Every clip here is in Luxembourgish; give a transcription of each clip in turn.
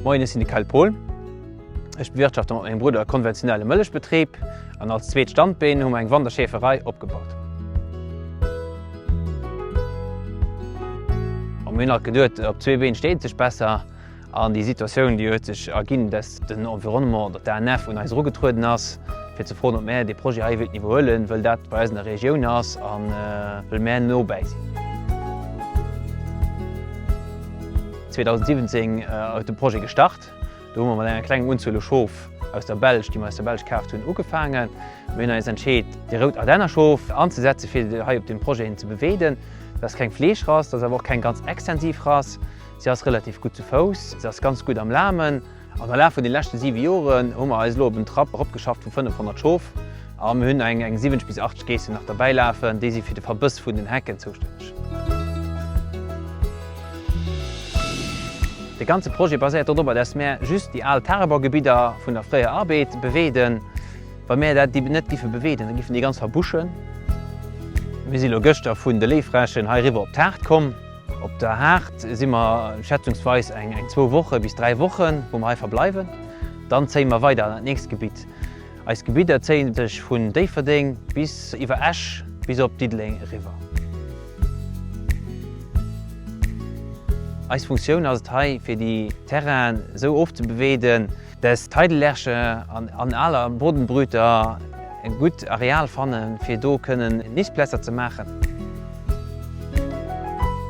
Moien, ech sinn de Kyle Pol. Ech bewirtschafte mat mengem Brudder e konventionelle Mëllechbetrib an als zweet Standbeen hu mer eng Wanderschäferei opgebaut. Mir hunn alt geduet, op zwee Been steet ee sech besser. An déi Situatioun, déi huet sech erginn, dass den Environnement oder d'ANF un eis erugetrueden ass, fir ze froen, ob mär dee Projet hei wéilten iwwerhuelen, wëll dat bei eis an der Regioun ass a wëll mär nobäi sinn. 2017 ass de Projet gestart. Do hu mer mat enger klengem Unzuel u Schof aus der Belsch, déi mer aus der Belsch kaaft hunn, ugefaangen. Mir hunn eis entscheet, déi rout Ardennerschof anzesetzen, fir hei op deem Projet hin ze beweeden. Dat ass keng Fleeschrass, dat ass awer och keng ganz extensiv Rass. Si ass relativ gutt zu Fouss, se ass ganz gutt am Lamen an am Laf vun den leschten 7 Joren hu mer eis elo op en Trapp eropgeschafft vun 500 Schof a mir hunn eng 70 bis 80 Geessen nach derbäi lafen, déi si fir de Verbëss vun den Hecken zoustänneg. De ganze Projet baséiert dodrobber, dass mir just déi al Tagebaugebidder vun der fréier Arbeed beweeden. Wa mir dat net giffe beweeden, da giffen déi ganz verbuschen. Mir si lo gëschter vun de Léifräschen heiriwwer op d'Haard komm. Op der Haard si mer schätzungsweis eng zwou Woche bis dräi Wochen, wou mer hei verbleiwen. Dann zéie mer weider an dat nächst Gebitt. Eis Gebidder zéie sech vun Déifferdeng bis iwwer Esch bis op Diddeleng eriwwer. Eis Funktioun ass et hei, fir déi Terrainen esou ofzebeweeden, Dass d'Heidelerche an aler Bodenbrüter e gutt Areal fanne fir do kënnen Nistplätzer ze maachen.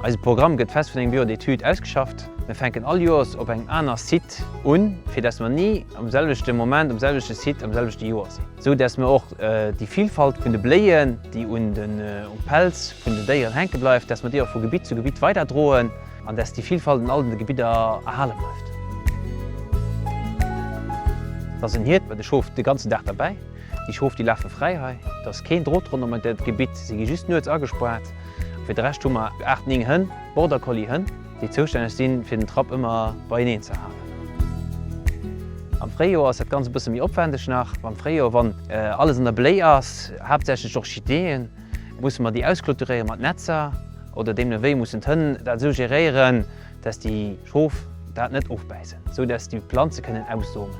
Eise Programm gëtt fest vun engem Bureau d'études ausgeschafft. Mir fänken all Joers op engem aner Site un, fir dass mer ni am selwechte Moment um selwechte Site am selwechte Joer sinn, esou dass mer och déi Vilfalt vun de Bléien, déi um Pelz vun den Déieren hänke bleift, dass mer déi och vu Gebitt zu Gebitt weiderdroen. An dass déi Vielfalt an all de Gebidder erhale bleift. Et ass en Hiert mat e Schof de ganzen Dag derbäi. Déi Schof, déi lafe fräi hei. Et ass keen Drot ronderëm dat Gebitt. Si gi just nuets agespaart. A fir de Rescht hu mer aacht, néng Hënn, Border Collie Hënn, déi zoustänneg sinn, fir den Trapp ëmmer beieneen ze halen. Am Fréijoer ass dat Ganzt e bësse méi opwendeg nach. Am Fréijoer, wann alles an der Bléi ass, haaptsächlech Orchideeën, Musse mer déi ausclôturéiere mat Netzer oder deemnewéi? Mussen d'Hënn dat esou geréieren, dass déi Schof dat net ofbäissen, esou dass déi Planze kënnen aussomen?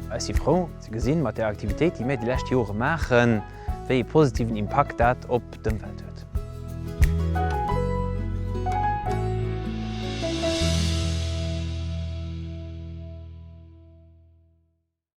Ech si frou ze gesinn, mat der Aktivitéit, déi mir déi lescht Jore maachen, wéi ee positiven Impakt dat op d'Ëmwelt huet.